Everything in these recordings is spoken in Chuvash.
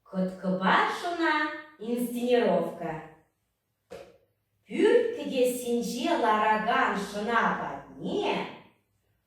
Кӑткӑпашӑна инсценировка пӳрт кӗтессинче ларакан шӑна патне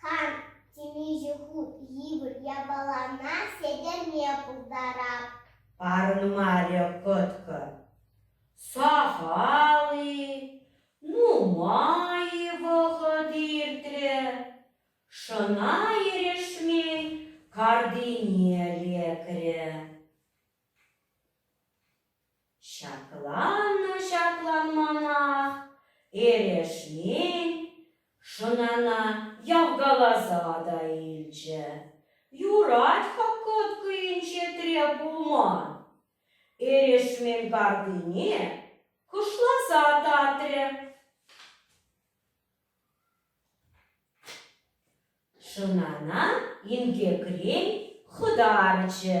Хан темиҫе хут йывӑр япалана сӗтӗме пултарап. Парӑнмарӗ кӑткӑ. Сахал-и, нумай-и вӑхӑт иртрӗ, шӑна эрешмен картине лекрӗ. Ҫакланнӑ-ҫакланманах эрешмен шӑнана явкаласа та илчӗ: юрать хоккоткӑйӗнче требулман, эрешмен картине кӑшласа татрӗ. Шӑнана инкекрен хӑтарчӗ.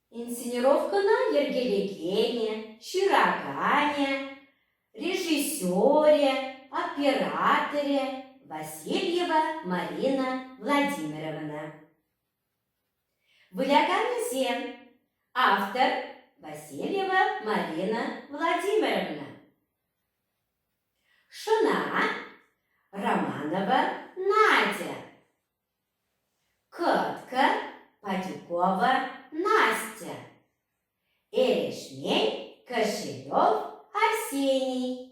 Инсценировкӑна йӗркелекенӗ, ҫыраканӗ, режиссерӗ, операторӗ Васильева Марина Владимировна. Выляканӗсем автор Васильева Марина Владимировна. Шӑна Романова Надя. Кӑткӑ, Падюкова Настя, Эрешмей, Кошелев Арсений.